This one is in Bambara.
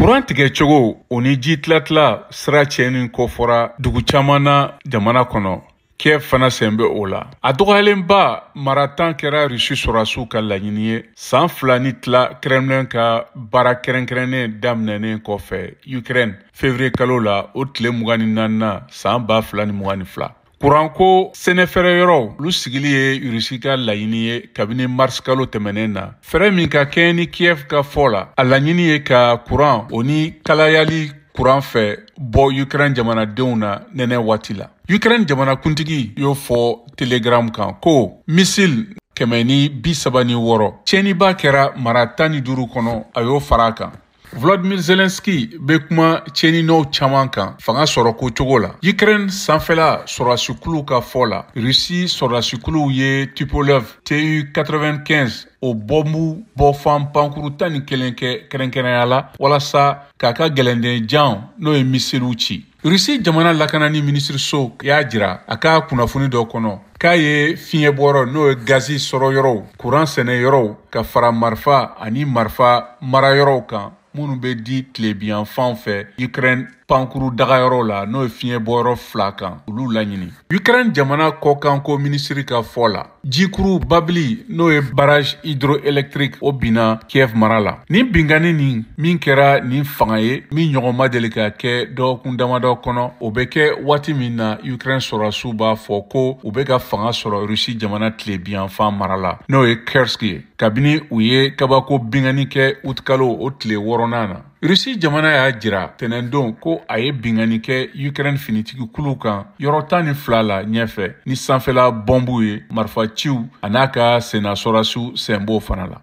kuran tigɛ cogo o ni ji tilatila sira tiɲɛni kofɔra dugu caman na jamana kɔnɔ kiev fana sen bɛ o la a dɔgɔyalenba mara tan kɛra rusi sɔrɔdasiw ka laɲini ye san fila ni tila kremlin ka baara kɛrɛnkɛrɛnnen daminɛnen kɔfɛ ukraine fevrier kalo la o tile mugan ni naaninan san ba fila ni mugan ni fila Kuranko sɛnɛfɛɛrɛ yɔrɔw olu sigili ye Russie ka laɲini ye kabini mars kalo tɛmɛnen na. Fɛɛrɛ min ka kɛɲɛ ni Kiev ka fɔ la, a laɲini ye ka kuran o ni kalayali kuran fɛ bɔ Ukraine jamanadenw na nɛnɛ waati la. Ukraine jamanakuntigi y'o fɔ Telegram kan ko misil kɛmɛ ni bi saba ni wɔɔrɔ tiɲɛniba kɛra mara tan ni duuru kɔnɔ a y'o fara a kan. Volodymyr Zelensky bɛ kuma tiɲɛni nɔw caman kan fanga sɔrɔko cogo la. Ukraine sanfɛla sɔrɔdasikuluw ka fɔ la, Russie sɔrɔdasikuluw ye Tupolev TU-95 o bɔnbu bɔfan pankuru tan ni kelen kɛ kɛrɛnkɛrɛnya la walasa k'a ka gɛlɛndenjan n'o ye misiliw ci. rusi jamana lakanani minisiriso y'a jira a ka kunnafoni dɔ kɔnɔ k'a ye fiɲɛ bɔyɔrɔ n'o ye gazi sɔrɔ yɔrɔw kuran sɛnɛ yɔrɔw ka fara marifa ani marifa mara yɔrɔw kan minnu bɛ di tilebiyan fan fɛ ukraine pankuru dagayɔrɔ la n'o ye fiɲɛ bɔyɔrɔ fila kan olu laɲini ukraine jamana kɔkanko minisiri ka fɔ la Jikuru babili n'o ye barrage hydroélectrique o binna Kiev mara la. Nin binkanni nin min kɛra ni fanga ye min ɲɔgɔn ma deli ka kɛ dɔgɔkun damadɔ kɔnɔ, o bɛ kɛ waati min na Ukraine sɔrɔdasiw b'a fɔ ko u bɛ ka fanga sɔrɔ Russie jamana tilebiyanfan mara la, n'o ye Kursk ye, kabini u ye kabako binkanni kɛ utikalo o tile wɔɔrɔnan na. Rusi jamana y'a jira tɛnɛndon ko a ye binkanni kɛ Ukraine finitigi kulu kan yɔrɔ tan ni fila la ɲɛfɛ ni sanfɛla bɔnbu ye marifa ciw an'a ka senna sɔrasiw sen b'o fana la.